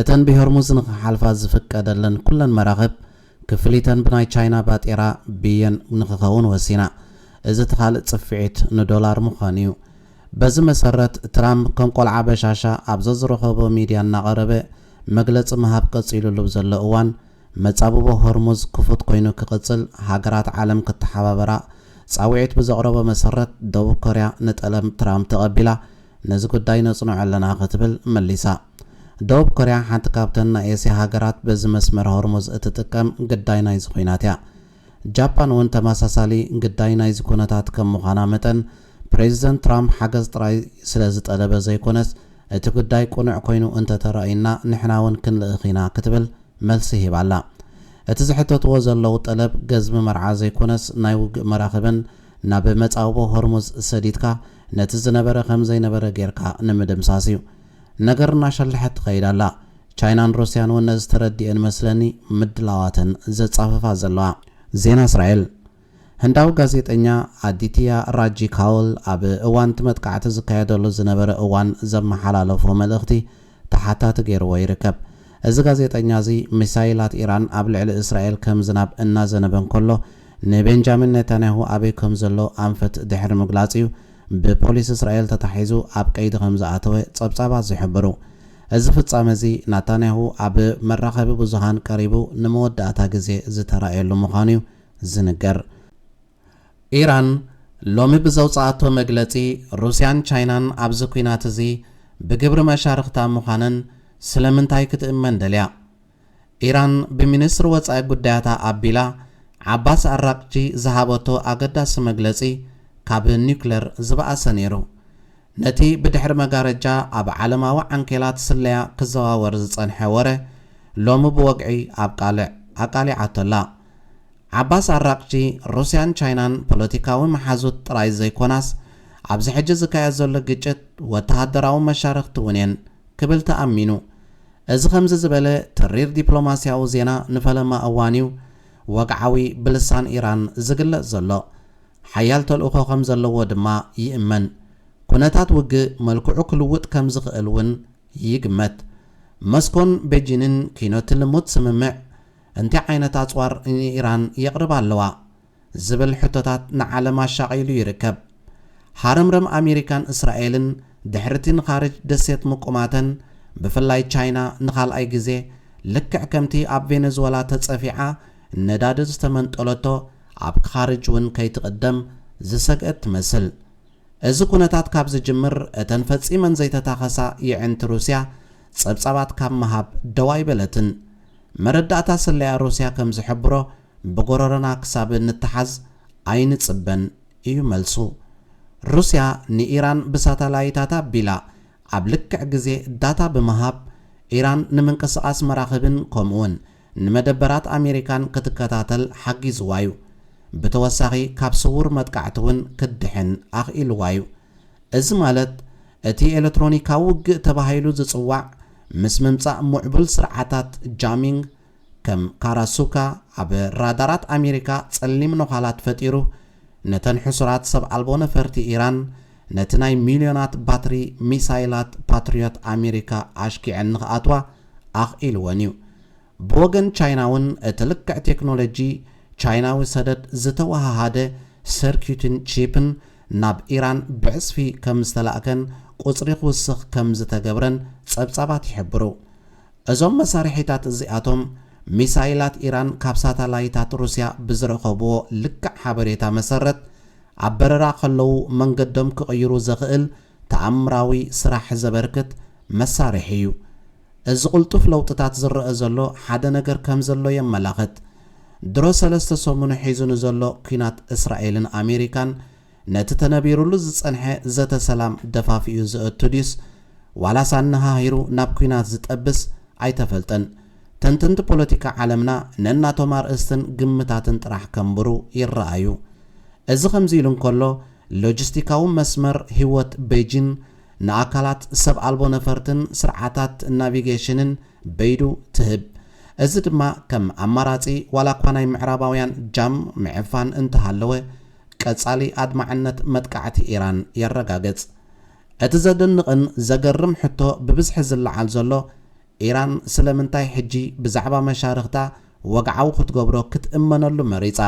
እተን ብሆርሙዝ ንኽሓልፋ ዝፍቀደለን ኩለን መራኽብ ክፍሊተን ብናይ ቻይና ባጤራ፣ ብየን፣ ንኽኸውን ወሲና። እዚ እቲ ካልእ ጽፍዒት ንዶላር ምዃኑ'ዩ። በዚ መሰረት ትራምፕ ከም ቆልዓ በሻሻ ኣብ ዘዝረኸቦ ሚድያ እናቐረበ መግለጺ ምሃብ ቀጺሉሉ ብዘሎ እዋን መጻብቦ ሆርሙዝ ክፉት ኮይኑ ክቕጽል ሃገራት ዓለም ክተሓባበራ ጻውዒት ብዘቕረቦ መሰረት ደቡብ ኮርያ ንጠለብ ትራምፕ ተቐቢላ ነዚ ጉዳይ ነጽንዖ ኣለና ክትብል መሊሳ። ደቡብ ኮርያ ሓንቲ ካብተን ናይ ኤስያ ሃገራት በዚ መስመር ሆርሙዝ እትጥቀም ግዳይ ናይዚ ኲናት እያ። ጃፓን እውን ተመሳሳሊ ግዳይ ናይዚ ኩነታት ከም ምዃና መጠን፣ ፕሬዚደንት ትራምፕ ሓገዝ ጥራይ ስለ ዝጠለበ ዘይኮነስ እቲ ጉዳይ ቅኑዕ ኮይኑ እንተ ተራእዩና ንሕና እውን ክንልእኽ ኢና ክትብል መልሲ ሂባ ኣላ። እቲ ዝሕተትዎ ዘለዉ ጠለብ ገዝሚ መርዓ ዘይኮነስ ናይ ውግእ መራኽብን ናብ መጻብቦ ሆርሙዝ ሰዲድካ ነቲ ዝነበረ ከምዘይነበረ ጌርካ ንምድምሳስ እዩ። ነገር እናሸለሐት ትኸይድ ኣላ። ቻይናን ሩስያን እውን ነዚ ተረዲኤን መስለኒ ምድላዋተን ዘጻፍፋ ዘለዋ። ዜና እስራኤል፣ ህንዳዊ ጋዜጠኛ ኣዲትያ ራጂ ካውል ኣብ እዋን'ቲ መጥቃዕቲ ዝካየደሉ ዝነበረ እዋን ዘመሓላለፎ መልእኽቲ ተሓታቲ ገይርዎ ይርከብ። እዚ ጋዜጠኛ እዚ ሚሳይላት ኢራን ኣብ ልዕሊ እስራኤል ከም ዝናብ እናዘነበ እንከሎ ንቤንጃሚን ኔታንያሁ ኣበይ ከም ዘሎ ኣንፈት ድሕሪ ምግላጽ እዩ ብፖሊስ እስራኤል ተታሒዙ ኣብ ቀይዲ ከም ዝኣተወ ጸብጻባት ዝሕብሩ። እዚ ፍጻመ እዚ ናታንያሁ ኣብ መራኸቢ ብዙሃን ቀሪቡ ንመወዳእታ ግዜ ዝተራእየሉ ምዃኑ እዩ ዝንገር። ኢራን ሎሚ ብዘውጽኣቶ መግለጺ፣ ሩስያን ቻይናን ኣብዚ ኲናት እዚ ብግብሪ መሻርኽታ ምዃነን ስለምንታይ ክትእመን ደልያ? ኢራን ብሚኒስትሪ ወጻኢ ጉዳያታ ኣቢላ ዓባስ ኣራቅቺ ዝሃበቶ ኣገዳሲ መግለጺ ካብ ኒዩክለር ዝበኣሰ ነይሩ። ነቲ ብድሕሪ መጋረጃ ኣብ ዓለማዊ ዓንኬላት ስለያ ክዘዋወር ዝጸንሐ ወረ ሎሚ ብወግዒ ኣብ ቃልዕ ኣቃሊዓቶ ኣላ። ዓባስ ኣራቕቺ፣ ሩስያን ቻይናን ፖለቲካዊ መሓዙት ጥራይ ዘይኰናስ፣ ኣብዚ ሕጂ ዝካየድ ዘሎ ግጭት ወተሃደራዊ መሻርኽቲ እውን እየን ክብል ተኣሚኑ። እዚ ከምዚ ዝበለ ተሪር ዲፕሎማስያዊ ዜና ንፈለማ እዋን እዩ ወግዓዊ ብልሳን ኢራን ዝግለጽ ዘሎ። ሓያል ተልእኾ ከም ዘለዎ ድማ ይእመን። ኵነታት ውግእ መልክዑ ክልውጥ ከም ዝኽእል እውን ይግመት። መስኮን ቤጂንን ኪኖ ትልሙት ስምምዕ፣ እንታይ ዓይነት ኣጽዋር ንኢራን የቕርባ ኣለዋ? ዝብል ሕቶታት ንዓለም ኣሻቒሉ ይርከብ። ሃረምረም ኣሜሪካን እስራኤልን ድሕሪ'ቲ ንኻርጅ ደሴት ምቁማተን፣ ብፍላይ ቻይና ንኻልኣይ ግዜ ልክዕ ከምቲ ኣብ ቬነዝወላ ተጸፊዓ ነዳዲ ዝተመንጠለቶ ኣብ ኻርጅ እውን ከይትቕደም ዝሰግአት ትመስል። እዚ ኩነታት ካብ ዝጅምር እተን ፈጺመን ዘይተታኸሳ የዒንቲ ሩስያ ጸብጻባት ካብ ምሃብ ደው ኣይበለትን። መረዳእታ ስለያ ሩስያ ከም ዝሕብሮ፣ ብጎረሮና ክሳብ እንተሓዝ ኣይንጽበን እዩ መልሱ። ሩስያ ንኢራን ብሳታላይታት ኣቢላ፣ ኣብ ልክዕ ግዜ ዳታ ብምሃብ፣ ኢራን ንምንቅስቓስ መራኽብን ከምኡ'ውን ንመደበራት ኣሜሪካን ክትከታተል ሓጊዝዋ'ዩ። ብተወሳኺ ካብ ስዉር መጥቃዕቲ'ውን ክትድሕን ኣኽኢልዋ'ዩ። እዚ ማለት እቲ ኤለትሮኒካዊ ውግእ ተባሂሉ ዝጽዋዕ ምስ ምምጻእ ሙዕቡል ስርዓታት ጃሚንግ ከም ካራሱካ ኣብ ራዳራት ኣሜሪካ ጸሊም ነዃላት ፈጢሩ ነተን ሕሱራት ሰብ ኣልቦ ነፈርቲ ኢራን ነቲ ናይ ሚልዮናት ባትሪ ሚሳይላት ፓትርዮት ኣሜሪካ ኣሽኪዐን ንኽኣትዋ ኣኽኢልወን'ዩ። ብወገን ቻይና'ውን እቲ ልክዕ ቴክኖሎጂ ቻይናዊ ሰደድ ዝተወሃሃደ ሰርኪዩትን ቺፕን ናብ ኢራን ብዕጽፊ ከም ዝተላእከን ቁጽሪ ክውስኽ ከም ዝተገብረን ጸብጻባት ይሕብሩ። እዞም መሳርሒታት እዚኣቶም፣ ሚሳይላት ኢራን ካብ ሳታላይታት ሩስያ ብዝረኸብዎ ልክዕ ሓበሬታ መሰረት ኣብ በረራ ከለዉ መንገዶም ክቕይሩ ዘኽእል ተኣምራዊ ስራሕ ዘበርክት መሳርሒ'ዩ። እዚ ቅልጡፍ ለውጥታት ዝረኣ ዘሎ ሓደ ነገር ከም ዘሎ የመላኽት። ድሮ ሰለስተ ሰሙኑ ሒዙ ንዘሎ ኲናት እስራኤልን ኣሜሪካን ነቲ ተነቢሩሉ ዝጸንሐ ዘተ ሰላም ደፋፊኡ ዘእቱ ድዩስ ዋላስ ኣነሃሂሩ ናብ ኲናት ዝጠብስ ኣይተፈልጠን። ተንተንቲ ፖለቲካ ዓለምና ነናቶም ኣርእስትን ግምታትን ጥራሕ ከንብሩ ይረኣዩ። እዚ ከምዚ ኢሉ እንከሎ ሎጂስቲካዊ መስመር ህይወት በይጂን ንኣካላት ሰብ ኣልቦ ነፈርትን ስርዓታት ናቪጌሽንን በይዱ ትህብ። እዚ ድማ ከም ኣማራጺ ዋላኳ ናይ ምዕራባውያን ጃም ምዕፋን እንተሃለወ ቀጻሊ ኣድማዕነት መጥቃዕቲ ኢራን የረጋግጽ። እቲ ዘደንቕን ዘገርም ሕቶ ብብዝሒ ዝለዓል ዘሎ ኢራን ስለምንታይ ሕጂ ብዛዕባ መሻርኽታ ወግዓዊ ክትገብሮ ክትእመነሉ መሪጻ?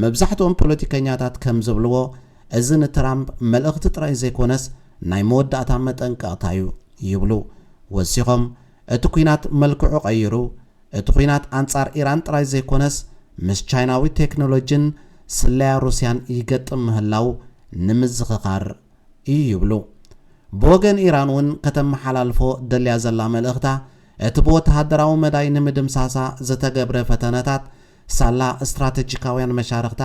መብዛሕትኦም ፖለቲከኛታት ከም ዝብልዎ፣ እዚ ንትራምፕ መልእኽቲ ጥራይ ዘይኰነስ ናይ መወዳእታ መጠንቀቕታ'ዩ ይብሉ። ወሲኾም፣ እቲ ኲናት መልክዑ ቀይሩ፣ እቲ ኲናት ኣንጻር ኢራን ጥራይ ዘይኰነስ ምስ ቻይናዊ ቴክኖሎጂን ስለያ ሩስያን ይገጥም ምህላዉ ንምዝኽኻር እዩ ይብሉ። ብወገን ኢራን እውን ከተመሓላልፎ ደልያ ዘላ መልእኽታ እቲ ብወተሃደራዊ መዳይ ንምድምሳሳ ዝተገብረ ፈተነታት ሳላ ስትራተጂካውያን መሻርኽታ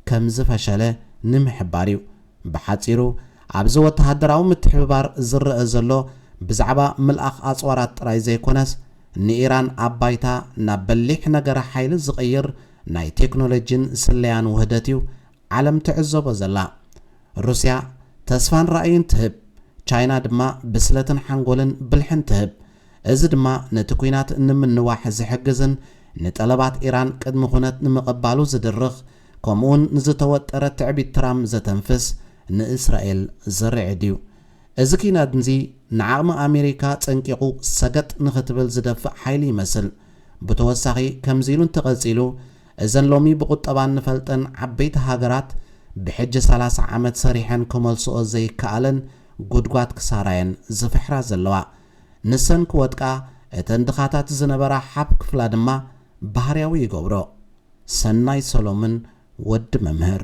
ከም ዝፈሸለ ንምሕባር እዩ። ብሓጺሩ ኣብዚ ወተሃደራዊ ምትሕብባር ዝረኣ ዘሎ ብዛዕባ ምልኣኽ ኣጽዋራት ጥራይ ዘይኮነስ ንኢራን ኣብ ባይታ ናብ በሊሕ ነገረ ሓይሊ ዝቕይር ናይ ቴክኖሎጂን ስለያን ውህደት እዩ ዓለም ትዕዘቦ ዘላ። ሩስያ ተስፋን ራእይን ትህብ፣ ቻይና ድማ ብስለትን ሓንጎልን ብልሕን ትህብ። እዚ ድማ ነቲ ኲናት ንምንዋሕ ዝሕግዝን ንጠለባት ኢራን ቅድሚ ኩነት ንምቕባሉ ዝድርኽ ከምኡውን ንዝተወጠረ ትዕቢት ትራም ዘተንፍስ ንእስራኤል ዝርዕድ እዩ። እዚ ኲናትዚ ንዓቕሚ ኣሜሪካ ጸንቂቑ ሰገጥ ንኽትብል ዝደፍእ ሓይሊ ይመስል። ብተወሳኺ ከምዚ ኢሉ እንተቐጺሉ፣ እዘን ሎሚ ብቁጠባ እንፈልጠን ዓበይቲ ሃገራት ብሕጂ ሰላሳ ዓመት ሰሪሐን ክመልስኦ ዘይከኣለን ጉድጓድ ክሳራየን ዝፍሕራ ዘለዋ። ንሰን ክወድቃ እተን ድኻታት ዝነበራ ሓፍ ክፍላ ድማ ባህርያዊ ይገብሮ። ሰናይ ሰሎምን ወዲ መምህር።